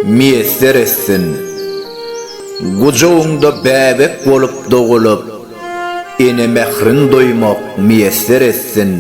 Miýesser etsin. Gujagyňda bäbek bolup dogulyp, ene mährin duýmak miýesser etsin.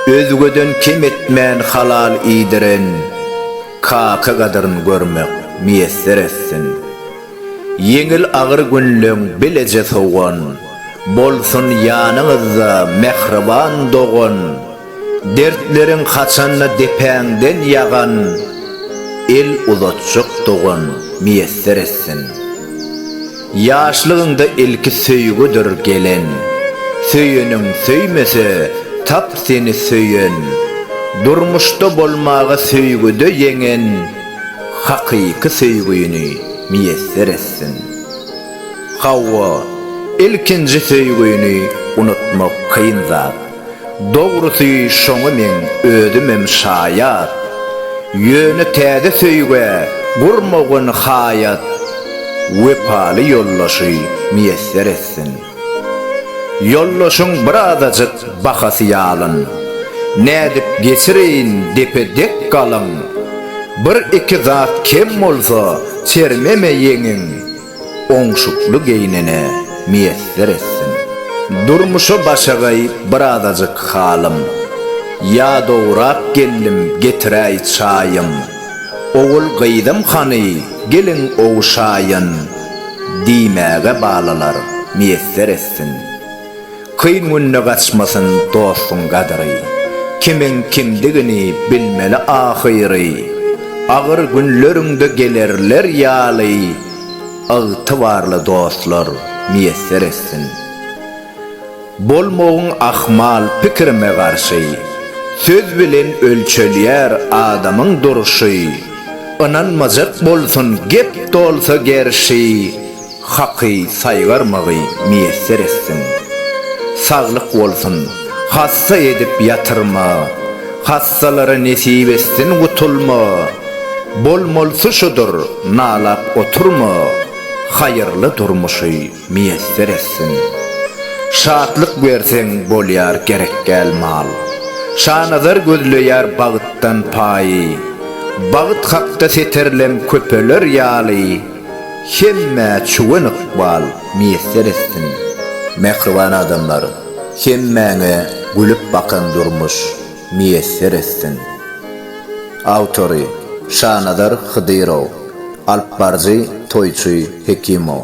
Özgeden kem etmän halal iýdiren kaka gadyryn görmek miýesser etsin. Ýeňil agyr günleň bileje sowan, bolsun ýanyňyzda mähriban dogan. Dertleriň haçanda depäňden ýagan, El uzatjak dogan miýesser etsin. Ýaşlygyňda ilki söýgüdir gelen, Söýeniň söýmese, tap seni söýen, Durmuşda bolmaga söýgüde ýeňen, Hakyky söýgüni miýesser etsin. Hawa, ilkinji söýgüni unutmak kyn zat. Dogrusy şoňa meň özümem şaýat. Ýöne täze söýgä gurmagyn haýat Wepaly ýoldaşy miýesser etsin. Ýoldaşyň bir azajyk bahasy ýalyn. Nädip geçireýin depe dek galyň. Bir-iki zat kem bolsa çermeme ýeňiň. oňşukly geýnene miýesser etsin. Durmuşa başagaý birazajyk halym, ýadawrak geldim getiräý çaýym, ogul-gyzym hany geliň ogşaýyn diýmäge balalar miýesser etsin. Kyn günde gaçmasyn dostuň gadyry, Kimiň kimdigini bilmeli ahyry. Agyr günleriňde gelerler ýaly, Ygtybarly dostlar miýesser etsin. Bolmagyn ahmal pikirime garşy, Söz bilen ölçelýär adamyň durşy. Ynanmajak bolsun gep dolsa gerşi. Haky saýgarmagy miýesser etsin. Saglyk bolsun, hassa edip ýatyrma, Hassalara nesip etsin gutulma, Bolmalysy şudur, nalap oturma, Haýyrly durmuşy miýesser etsin. Şatlyk berseň bolýar gerekgäl mal, Şanazar gözleýär bagtdan paýy, Bagt hakda setirlem köpeler ýaly, Hemmä çuwen ykbal miýesser etsin. Mähriban adamlar, hemmäňe gülüp bakan durmuş miýesser etsin! Awtory, Şanazar Hydyrow, Alypbaryjy Toýçy Hekimow.